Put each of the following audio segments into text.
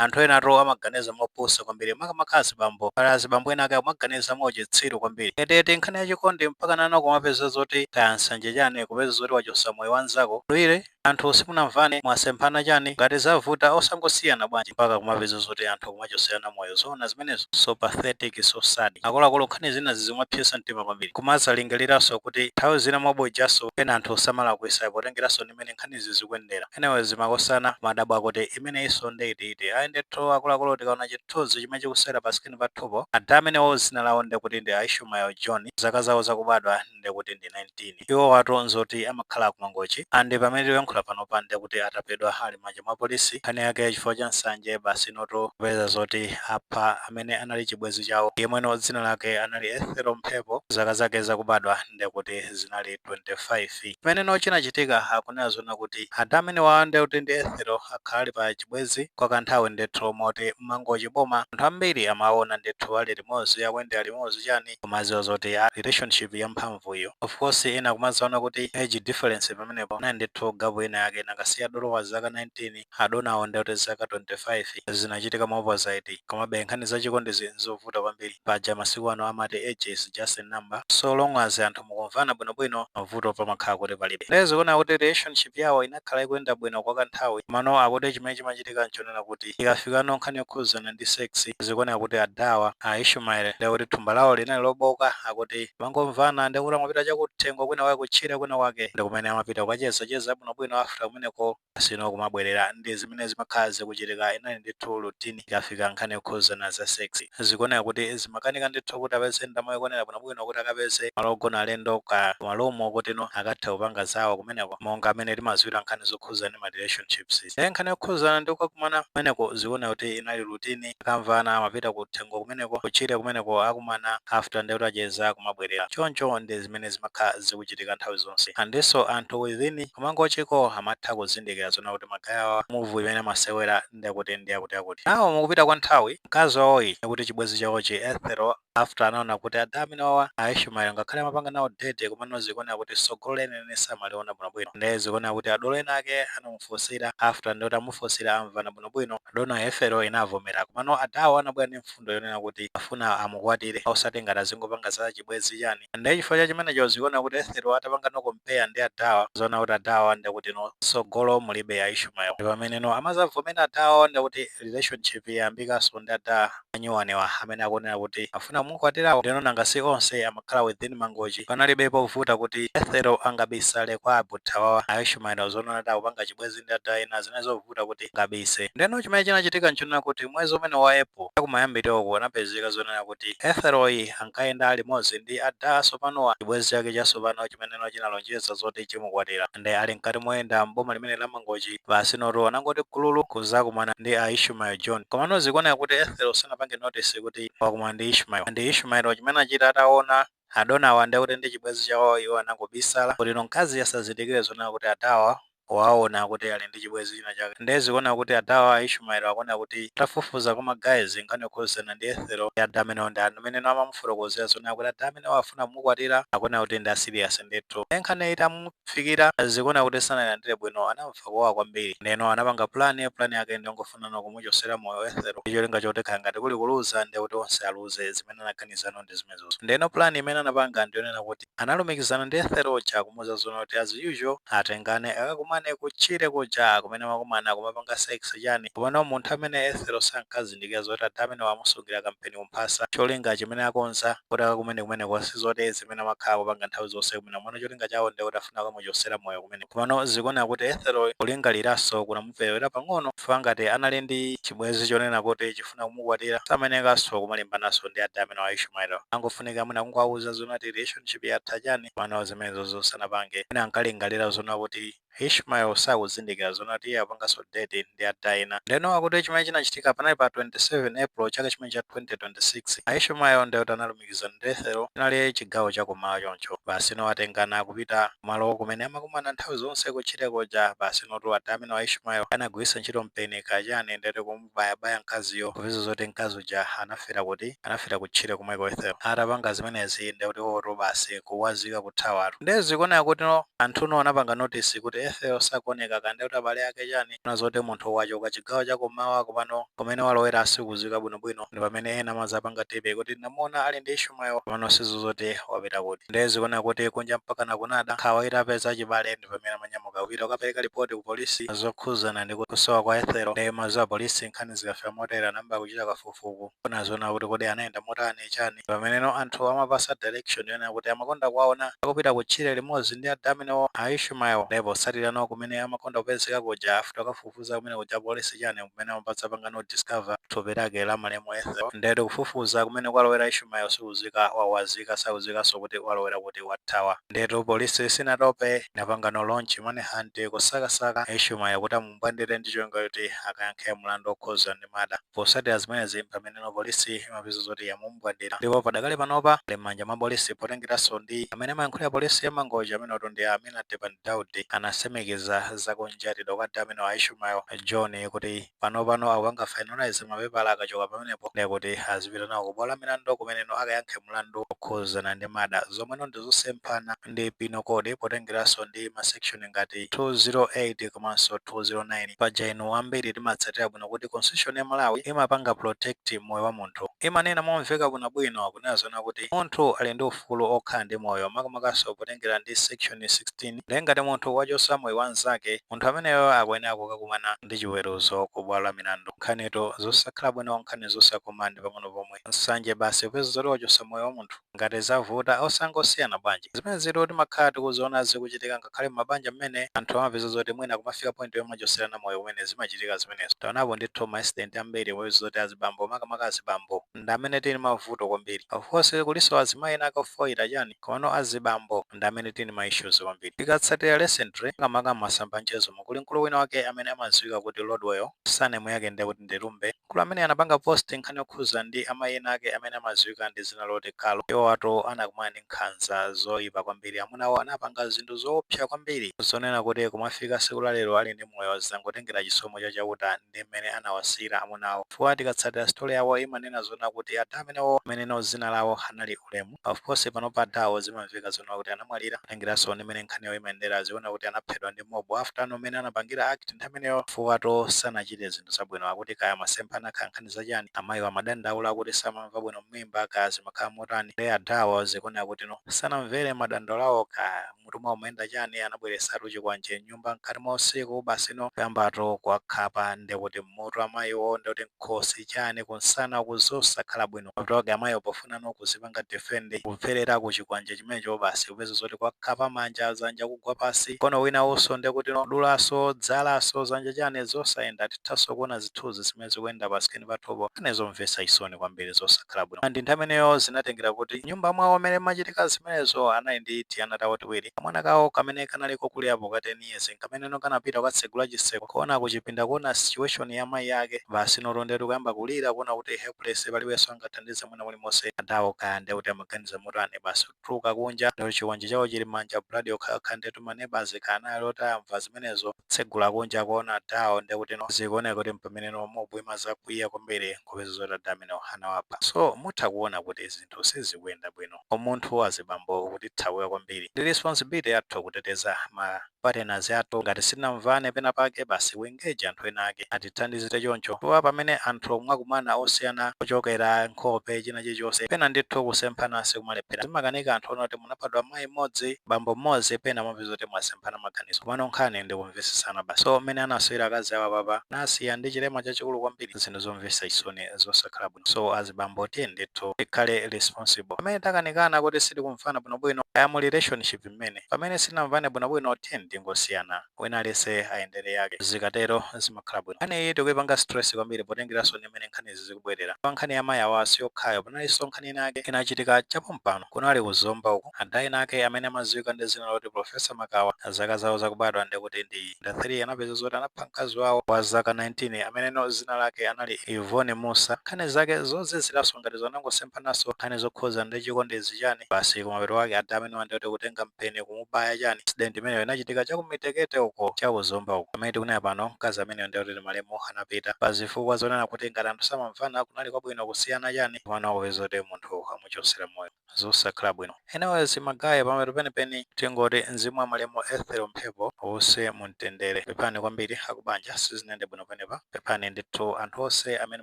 Anthu enatu amaganiza mopusa kwambiri makamaka azibambo. Pali azibambo enaake akumaganiza mwauchitsiru kwambiri. Eti nkhani ya chikondi mpakana kumapeza zoti kaya nsanje chani kupeza zoti wachosa moyo wa nzako bwanawe anthu simunamvane mwasemphana chani ngati zavuta osangosiyana bwanji mpaka kumapeza zoti anthu kumachoserana moyo zoona zimenezo? So pathetic so sad. Akuluakulu nkhani zina zizimapsesa mtima kwambiri. Kumazalingaliranso kuti nthawi zina mob justice pena anthu samalakwisa potengeranso ndi mmene nkhanizi zikuyendera. Anyways makosana kumadabwa kuti. imeneyinso nde iti iti ayi ndithu akuluakulu tikaona chithunzi chimene chikusewera pa screen pathupo ada amenewo zina lawo ndekuti ndi a Ishumael John zaka zawo zakubadwa ndekuti ndi 19 iwowatu nzoti amakhala ku Mangochi and pamene tikuyankhula panopa ndekuti atapezedwa ali mmanja mwa polisi nkhani yake chifukwa cha nsanje basi inotu kupeza zoti apha amene anali chibwenzi chawo yemweno dzina lake anali Ethel Mphepo zaka zake zakubadwa ndekuti zinali 25. Chimeneno chinachitika akunena zonena kuti ada amenewawa ndi Ethel akhala ali pa chibwenzi kwa ka nthawi ndithu moti mmangochi boma anthu ambiri amawaona ndithu ali limodzi akuyendera limodzi chani kumaziwa zoti a relationship ya mphamvu iyo of course ena kumazaona kuti age difference pamenepo kunali ndithu gap ina yake kamba koti dolo wa zaka 19 Adonawo nde kuti zaka 25 zinachitika mwa opposite. Komabe nkhani za chikondizi nzovuta kwambiri. Paja masiku ano amati age is just a number, so long as anthu mukumvana bwinobwino, mavuto pamakhala kuti palibe. Nde zikuoneka kuti relationship yawo inakhala ikuyenda bwino kwa kanthawi, komano akuti chimene chimachitika nchonena kuti ikafikano nkhani yokhudzana ndi sex, zikuoneka kuti adawa, a Ishumael, nde kuti thumba lawo linali lobooka, akuti amangomvana nde kuti amapita chakuthengo kwinakwake kutchire kwinakwake ndi kumene amapita kukachezacheza bwinobwino after kumeneko. sino kumabwelera ndi zimene zimakhala zikuchitika inali ndithu routine ikafika nkhani yokhuzana za sex zikuoneka kuti zimakanika ndithu kuti apeze ndalama yokwanira bwinobwino kuti akapeze malo ogona alendo kaya ma room oti akathe kupanga zawo kumeneko monga mmene timaziwira nkhani zokhuzana ndi ma relationships nde nkhani yokhuzana ndi kukakumana kumeneko zikuoneka kuti inali routine akamvana amapita ku thengo kumeneko ku tchire kumeneko akumana after ndekuti acheza kumabwerera choncho ndi zimene zimakhala zikuchitika nthawi zonse andinso anthu within kumangochiko amatha kuzindikira zonena kuti magayawa move imene amasewera ndekuti ndi akuti akuti ndiye mukupita kwa nthawi mkazi wawoyi ndekuti chibwenzi chawochi Ethel after anaona kuti ada amenewawa a Ishmael ngakhale amapanga nawo date komano zikuoneka kuti tsogolo lenileni samaliona bwinobwino nde zikuoneka kuti adolo ena ake anamufunsira after nde kuti amufunsira amvana bwinobwino dona Ethel inavomera komano adawo anabwera ndi mfundo yonena kuti afuna amukwatire osati ngati azingopanga za chibwenzi chani nde chifukwa cha chimenecho zikuoneka kuti Ethel atapanga no compare ndi adawa waona kuti adawa ndekuti no tsogolo mulibe a Ishmael ndi pamene no amazavomera adawo ndekuti relationship yayambikaso ndi adah anyuwanewa amene akunena kuti afuna kumukwatirawa ndeno nanga si onse amakhala within mangochi panalibe povuta kuti ethel angabisale kwa a brother wawa a ishmael zonona kuti akupanga chibwezi ndi adah ena zinali zovuta kuti angabise ndeno chimene chinachitika nchonena kuti mwezi umene wa april chakumayambiliroku anapezeka zonena kuti ethel yu ankayenda alimodzi ndi adah atsopanowa chibwezi chake chasopano chimeneno chinalonjeza zoti chimukwatira nde ali mkati moyenda m'boma limene la mangochi Basi notu anangoti gululu kuzakumana ndi a Ishmael John. Komano zikuoneka kuti Ethel sanapange notice kuti wakumana ndi Ishmael. Nde Ishmael yo chimene anachita ataona adonawa nde kuti ndi chibwezi chawo iwo anangobisala kuti no mkazi asazindikile zonena kuti adawa waona kuti ali ndi chibwezi china chake. Nde zikuoneka kuti adawa a Ishmael akuoneka kuti atafufuza kwa ma guys nkhani yokhuzana ndi Ethel yo ada amenewo ndi amene no amamufotokozela zonena kuti ada amenewo afuna kumukwatila akuoneka kuti ndi a serious ndithu. Nde nkhani yo itamu Fikira zikuoneka kuti sanailandire bwino anamva kuwawa kwambiri. Neno anapanga plan, plan yake ndiyongofuna no kumuchosera moyo Ethel ndicholinga choti kaya ngati kuli kuluza ndiye kuti onse aluze zimene anaganiza no ndi zimenezozo. Ndeno plan imene anapanga ndiyonena kuti analumikizana ndi Ethel uja kumuuza zoona kuti as usual atengane akakumane kutchire kuja kumene amakumana kumapanga sex chani komano munthu amene Ethel sankazindikira zoti ada amenewa amusungila kampeni kumphasa cholinga chimene akonza kuti akakumane kumeneko sizoti zimene amakhala akupanga nthawi zonse kumene komano cholinga chawo ndekuti afuna kukamuchosera moyo kumene komano zikuoneka kuti Ethel kulingaliraso kunamupelewera pang'ono chifukwa ngati anali ndi chibwezi chonena kuti chifuna kumukwatira samayenekaso kumalimbanaso ndi ada amenewa a Ishmael ankafunika mwina kungowauza zoona kuti relationship yatha chani komano zimenezozo sanapange mwina ankalingalira zoona kuti Ishmael sakuzindikira zoona kuti iye akupanganso date ndi ada ena. Ndeno akuti chimene chinachitika panali pa 27 April chaka chimene cha 2026. A Ishmael ndekuti analumikizana ndi Ethel chinali chigawo cha kummawa choncho basi no atengana akupita kumalo kumene amakumana nthawi zonse kutchire kuja. Basi notu ada amenewa a Ishmael anagwiritsa ntchito mpeni kaya chani ndetu kum. kubayabaya mkaziyo kupeza zoti mkazi uja anafera kuti? Anafera kutchire komweko Ethel. Atapanga zimenezi nde kuti iwotu basi kuwazika kuthawatu. Nde zikuoneka kuti anthu no anapanga notice kuti Ethel sakuoneka nde kuti abale ake chani? Ona zoti munthu wachoka chigawo cha kummawa koma pano kumene walowera sikuziwika bwinobwino ndi pamene ena amazapanga tip kuti tinamuona ali ndi Ishmael komano sitiziwa zoti wapita kuti. Nde zikuoneka kuti kunja mpakana kunada, nkhawa itapeza achibale ndi pamene amanyamuka. Kupita kukapereka lipoti ku polisi zokhuzana ndi kusowa kwa Ethel nde mwaziwa apolisi nkhani zikafika motere anayamba kuchita kafukufuku kuona zoona kuti kodi anayenda motani chani pameneno anthu amapasa direction yonena kuti amakonda kuwaona akupita kutchire limodzi ndi ada amenewo a Ishmael nde potsatira no kumene amakonda kupezeka kuja after kukafufuza kumene kuja apolisi chani nkumene amadzapanga no discover thupi lake la malemu Ethel ndetu kufufuza kumene kwalowera Ishmael sikuziwika wawazika sakuziwikanso kuti walowera kuti wathawa Ndetu police sinatope inapangano launch manhunt kusakasaka Ishumael kuti amumbwandile ndi cholinga choti akayankhe mlandu okhuza ndi murder. Posatila zimenezi mpameneno police imapeza zoti yamumbwandila ndipo padakali panopa ali mmanja mwa police potengelaso ndi amene amayankhulila police ya Mangochi amenewotu ndi Amina Tepani Daudi anasimikiza za kunjatidwa kwa adha amenewa a Ishumael John kuti Panopano akupanga finalise mapepala akachoka pamenepo nde kuti azipita nawo ku bwalo la milandu kumeneno akayankhe mlandu okhuzana ndi murder zomweno ndi zosemphana ndi penal code potengeraso ndi ma section ngati 208 komanso 209. Paja inu ambiri timatsatira bwino kuti constitution ya Malawi imapanga protect moyo wa munthu. Imanena momveka bwino bwino kunena zoona kuti munthu ali ndi ufulu okhala ndi moyo makamakaso potengera ndi section 16. Ndiye ngati munthu wachotsa moyo wa mnzake, munthu ameneyo akuyenera kukakumana ndi chiweruzo ku bwalo la milandu. Nkhanitu zosakhala bwino, nkhani zosakoma ndi pang'ono pomwe. Nsanje basi upeza zoti wachotsa moyo wa munthu. Ngati zavuta, osangosiyana bwanji? Zimenezitu timakhala tikuziona zikuchitika ngakhale m'mabanja mmene, anthu amapeza zoti mwina kumafika point yomachotserana moyo kumene zimachitika zimenezo. Taonapo ndithu ma accident ambiri umapeza zoti azibambo, makamaka azibambo, ndi amene tili ndi mavuto kwambiri. Of course kulinso azimayi ena ake ofoira, chani? Komano azibambo ndi amene tili ndi ma issues kwambiri. Tikatsatira recently makamaka mmasamba a mchezomu kuli mkulu wina wake amene amadziwika kuti Lordwell, surname yake ndiye kuti ndi Lumbe, mkulu amene anapanga post nkhani yokhudza ndi amayi ena ake amene amadziwika ndi dzina loti Carol. Iwowatu anakumana ndi nkhanza zoipa kwambiri. Amunawo anapanga zinthu zoopsa kwambiri zonena kuti kumafika tsiku la lero ali ndi moyo zangotengera chisomo cha Chauta ndi mmene anawasiyira amunawo. Chifukwa tikatsatira story yawo imanena zoona kuti ada amenewo ameneno dzina lawo anali Ulemu, Of course panopa adawo zimamveka zoona kuti anamwalira kutengeranso ndi mmene nkhani yawo imayendera ziona kuti anaphedwa ndi mob after no mmene anapangira act nthawi imeneyo chifukwa to sanachite zinthu zabwino akuti kaya amasemphana kaya nkhani za chani amayiwo amadandaula kuti samamva bwino mmimba kaya zimakhala motani nde adawo zikuoneka kuti no sanamvere madandaulo awo kaya mutu mwawo mmayenda chani anabweresatu chikwanje mnyumba mkati mwa usiku basi no kuyambatu kuwakhapa ndekuti mmutu amayiwo ndekuti mkhosi chani kunsana uku zosakhala bwino afterwake amayiwo pofuna no kuzipanga defend kupherera ku chikwanje chimenecho basi upeza zoti kuwakhapa manja zanja kugwa pasi mkono wina uso ndekuti no kudulaso zalaso zanja chani zosayenda tithaso kuona zithuzi zimene zimene zikuyenda pa screen pathupo nkhani zomvetsa chisoni kwambiri zosakhala bwino and nthawi imeneyo zinatengera kuti mnyumba mwawo mmene mmachitika zimenezo anali ndi tiana tawo tiwiri, kamwana kawo kamene kanali kokulirapo ka 10 years nkameneno kanapita kukatsegula chitseko kuona kuchipinda kuona situation ya mayi ake basi noto ndetu kuyamba kulira kuona kuti helpless palibenso angathandize mwina mulimonse adawo kaya ndekuti amaganiza motani basi kutuluka kunja ndi chikwanje chawo chili mmanja blood yokhayokha ndetu ma neighbours kanali oti amva zimenezo kutsegula kunja kuona adawo ndekuti no zikuoneka kuti mpameneno mob imazakwiya kwambiri kupeza zoti ada amenewo anawapha so mutha kuona kuti zinthu sizikuyenda bwino umunthu azibambo ukutithawila kwambiri ndi responsibility yathu kuteteza ma partners athu ngati sitinamvane pena pake basi we engage anthu ena ake atithandizire choncho chifukwa pamene anthu mwakumana osiyana kuchokera nkhope china chilichonse pena ndithu kusemphana sikumalephera zimakanika anthu ona kuti munabadwa mayi mmodzi bambo mmodzi pena mumapeza zoti mwasemphana maganizo komano nkhani ndi kumvesesana basi so mmene anasiyira akazi awo apapa anasiya ndi chilema chachikulu kwambiri zinthu zomvesa chisoni zosakhala bwino so azibambo tiyeni ndithu tikhale responsible pamene takanikana kuti sitikumvana bwinobwino kaya mu relationship mmene pamene sitinamvane bwinobwino tiyeni tingosiyana wina aliyese ayendere yake zikatero zimakhala bwino nkhani iyi tikuyipanga stress kwambiri potengeraso ndi mmene nkhanizi zikubwerera chifukwa nkhani ya mayi awa siyokhayo panaliso nkhani ina yake inachitika chapompano kunali ku zomba uku ada ena ake amene amaziwika ndi zina loti professor makawa zaka zawo zakubadwa ndekuti ndi 1993 anapeza zoti anapha mkazi wawo wa zaka 19 ameneno zina lake anali Yvonne Mussa. Nkhani zake zoziziranso ngati izo anangosemphananso nkhani zokhudza ndi chikondi izi chani basi kumapeto kwake ada amenewa ndi oti kutenga mpeni kumubaya chani incident imeneyo inachitika cha ku Mitekete uko cha ku Zomba uko pamene tikunena pano mkazi ameneyo ndi oti malemu anapita pa zifukwa zonena kuti ngati anthu samamvana kunali kwabwino kusiyana chani komano akupeza kuti munthu amuchotsera moyo. zosakhala bwino. Anyways ma guy pamapeto penipeni tingoti mzimu wa malemu Ethel Mphepo uuse mumtendere. Pepani kwambiri akubanja sizinayende bwino penepa. Pepani ndithu anthu onse amene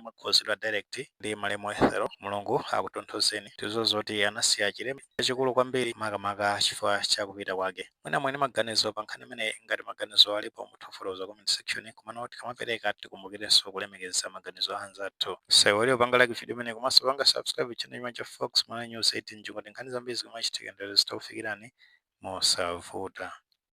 mwakhuzidwa direct ndi malemu Ethel. Mulungu akutonthozeni. Tiziwa zoti anasiya chilema chachikulu kwambiri makamaka chifukwa cha kupita kwake. Mwina muli ndi maganizo pa nkhani imeneyi? Ngati maganizowo alipo, mutha kufotokoza ku comment section. Komano tikamapereka, tikumbukirenso kulemekeza maganizo a anzathu. Musaiwale kupanga like vidiyo imeneyi komanso kupanga subscribe channel chimenechi cha Fox Malawi News 18 kuti nkhani zambiri zikamachitika ndi lero zizitha kufikirani mosavuta.